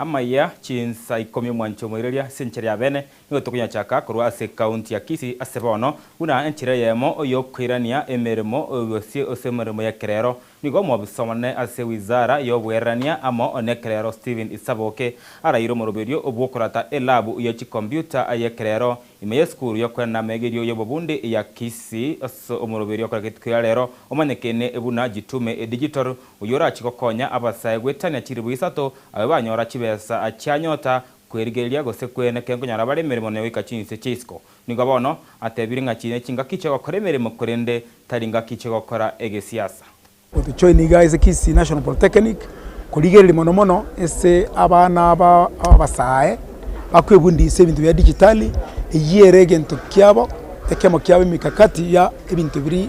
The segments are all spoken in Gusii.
Amaya chinsa ikomi omwancho omoireria ase enchera ya bene, nigo tokonyachaka korwa ase County ya Kisii ase bono, buna enchera eyemo y'okoirania emeremo y'obosie ase emeremo y'ekerero. Nigo omobisa omonene ase Wizara y'obogererania amo nekerero Stephen Isaboke araeire omoroberio bw'okorata elabu ye chikomputa y'ekerero ime y'esukuru y'okoenda amegerio y'obobundi ya Kisii ase omoroberio okoreta getukia rero omanyekene buna Jitume Digital Oyio orachie gokonya abasae goetania chiribu isato, abe banyora chibesa chia nyota, kwerigereria, gose kwene kenkonyara bare emeremo ne goika chinse chia isiko. Nigo bono atebire ng'a chine chingaki chi'ogokora emeremo korende tari ngaki chi'ogokora egesiasa. Gotochoin iga ase Kisii National Polytechnic, korigereria mono mono ase abana aba abasae bakwebundisa ebinto bia digitali, eyio ere egento kiabo, ekiamo kiabo emekakati ya ebinto biria.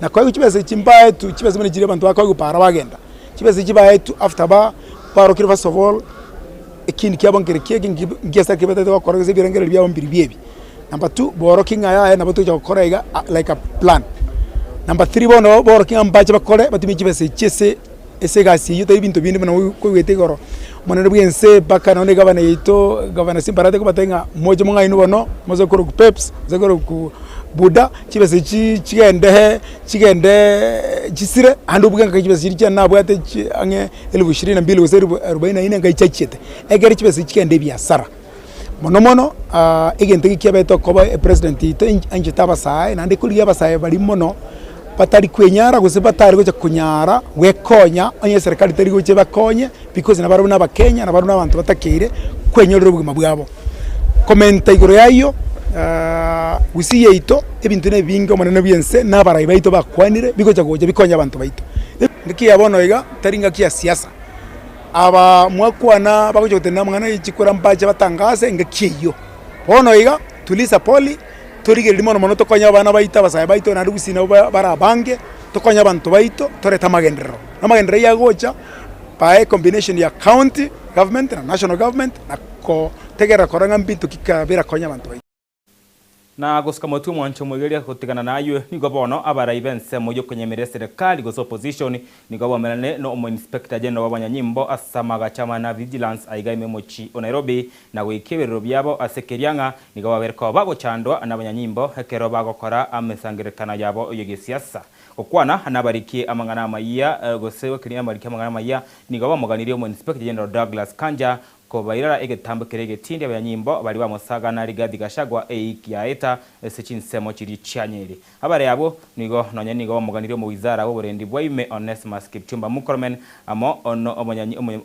Na koegwa chibesa echi mbaetwe, chibesa buna chiria abanto bakoegwa para bagenda, chibesa echi baetwe after ba barokire first of all ekindi kiabo nkere ki eki nki nkiasete kebataete gokora gose ebirengereri biabo mbiri bi ebi. Number two, borokie ng'a yaya nabo tocha gokora iga like a plan. Number three bono borokie ng'a mbache bakore batumie chibesa echi ase ase egasi eywo tari ebinto binde buna kogwete igoro monene bwa ense mpaka nonye na egavana yaito gavana simbarati kobatebia ng'a moche mong'aini bono moise korokwa peps moise korokwa buda chibesa echio chigende hee chigendee chisire aande obuge ng'a chibesa chiria chiane nabwate chi ang'e elfu ishirini na mbili gose elfu arubaini na nne ngai chiachiete ekere chibesa echio chigende ebiasara. Mono mono egento eke kiabeirete okoba epresident yaito anchete abasae, naende ekorigia abasae baria mono batari kwenyara gose batari gocha konyara gwekonya onye eserekari teri gocha ebakonye because nabo barabwo nabakenya nabo barabwo nabanto batakeire kwenyorera obogima bwabo. Komenta igoro y'ayio Gusii yaito ebinto na ebinge omonene bw'ense na abarai baito bakwanire bigocha gocha bikonye abanto baito. Engaki ya bono iga tari engaki ya siasa. abaa mwakwana bagocha gotenena amang'ana e chikura mbache batangaase engaki eyio. Bono iga tuliza poli, torigereria mono mono tokonye abana baito, abasae baito, naende gusii nabo ba bare abange, tokonye abanto baito, torete amagenderero. Na amagenderero ayio agocha by a combination ya county government na national government na gotegerera korora ng'a mbinto ki kabera konya abanto baito. na gosika motwe mwancha omoigereria gotigana nayio, nigo bono abarai b'ensemo y'okonyemera eserekari gose opposition nigo baumerane na omoinspector general bw'abanyanyimbo ase amaagacho amana a vigilance aiga ime mochie o Nairobi na goika eberero biabo ase ekeria ng'a nigo babere koba bagochandwa nabanyanyimbo ekero bagokora amesangererekano yabo y'egesiasa. Gokwana nabarikie amang'ana amayia gose gokiria nabariki amang'ana amayia nigo bamoganirie omoinspector general Douglas Kanja Kobairora egetambo keria egetindi abanyimbo baria bamosagana Rigathi Gachagua eyikia aeta ase chinsemo chiria chianyeri. Abare abwo nigo nonye nigo bamoganirie omowizara bw'oborendi bwa ime Onesmus Kipchumba Mukormen amo no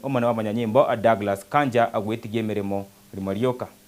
omonyanyimbo Douglas Kanja gwetigia emeremo rimo rioka.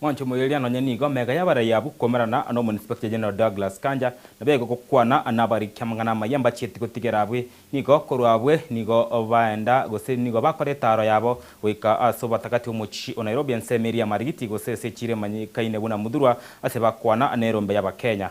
Mwanche omoiyeria nonye nigo mega y'abarai abwo komerana n'Omoinspector General Douglas Kanja nabo ege gokwana nabariki amang'ana amaya mbachieti gotigera abwe nigo korwa abwe nigo baenda gose nigo bakora etaaro yabo goika ase obotakati bw'omochie o Nairobi ensemo eria Marigiti gose ase echiro emanyikaine buna Muthurwa ase bakwana nerombe y'Abakenya.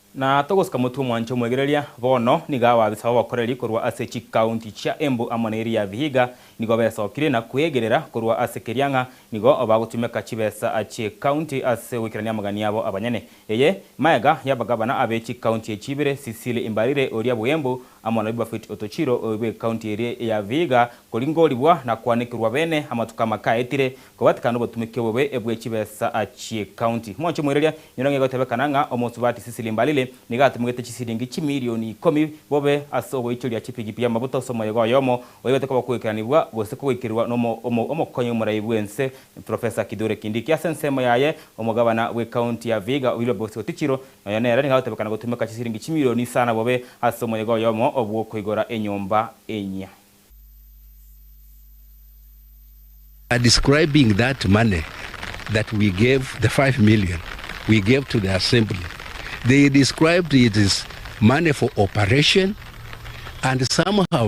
Na togosika motwe omwancha omwegereria, bono nigo abaabisa b'obokoreri korwa ase chikaunti chia Embu amo neria ya Vihiga nigo besokire na kwegerera korwa ase keria ng'a nigo bagotumeka chibesa chi'ekaunti ase goikerania amagani abo abanyene. Eye maega y'abagabana abe chikaunti echi ibere, Cecily Mbarire oria bw'Embu, amo na Bibafeti otochiro bw'ecounty eria ya Vihiga, koringorigwa na koanekirwa beene amatuko amakaetire, kobatikana nobotumeki obobe bwe chibesa chi'ecounty. Moche moiraria, inyora ng'a egotebekana ng'a omosubati Cecily Mbalile nigo atumegete chisilingi chimilioni ikomi bobe ase ogoichoria chipikipiki amabuta ase omoyega oyomo oigete koba okoikeranigwa gose kogoikerwa n'omokonyi omoraai bw'ense Professor Kithure Kindiki. Ase ensemo yaye, omogabana bw'ecounty ya Vihiga Wilberforce Otichiro, Nonya nere nigo agotebekana gotumeka chisiringi chimilioni isano bobe ase omoyega oyomo bw'okoigora enyomba enyia. are describing that money that we gave the five million we gave to the assembly they described it is money for operation and somehow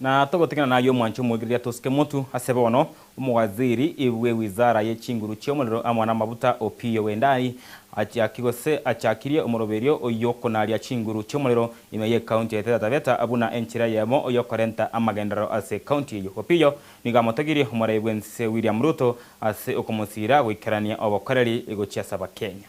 Na togotigana nayio omwanche omwegireria tosike motu ase bono, omowaziri bwe wizara ye chinguru chi'omorero amo namabuta, Opiyo Wendai, achiaki gose achakirie omoroberio oyio konaria chinguru chi'omorero ime ye county ya Taita Taveta buna enchera eyemo yokorenta amagenderero ase county eyio. Opiyo nigo amotogirie omorai bw'ense William Ruto ase okomosira goikerania obokoreri gochia ase abakenya.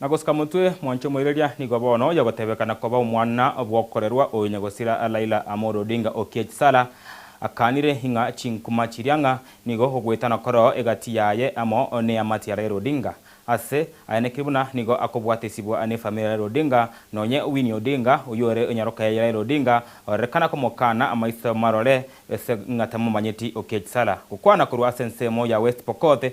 Na gosuka motwe mwancha omoireria nigo bono oyogotebekana koba omwana bw'okorerwa o Inyagosira Laila Amolo Odinga Okiech Sala akanire ing'a chinkuma chiria ng'a nigo ogwetana koroo egati yaye amo neamate ya Raila Odinga ase ayanekiri buna nigo akobwatesibwa nefamiri ya Raila Odinga nonye Winnie Odinga oyore nyaroka yaye Raila Odinga orerekana komokana amaiso marore ase ng'a tamomanyeti Okiech Sala gokwana korwa ase ensemo ya West Pokot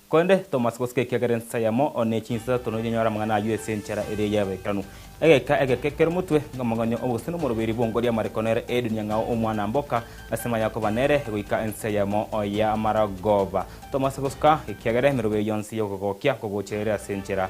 Korende Tomasi gosika ekiagera ensa yamo ne chinsa isatono yanyora amang'ana ayio ase enchera eria y'Abaibiranu. Egeka eke kekere omotwe ng'Amang'anyo 'Obogusii n'Omoroberi bw'Ongo ri'Amariko nere Edunia ng'ao omwana mboka ase maya akoba nere goika ense yamo y'amaragoba. Tomasi gosika ekiagera emeroberi yonsi y'okogokia ngogocha ere ase enchera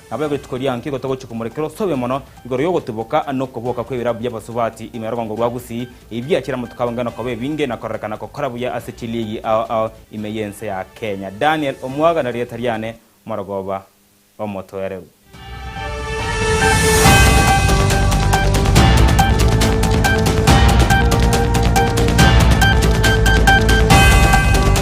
Nabo egetuko gia nki gotogochia komorekera osobe mono igoro y'ogotuboka nokoboka kw'ebirabu bi'abasubati ime rogongo rwa Gusii, ebi biachire amatuko abo ng'eno koba ebinge na kororekana gokora buya ase chiliigi ao ao ime y'ense ya Kenya. Daniel Omwaga nerieta riane, Morogoba Omotwereru.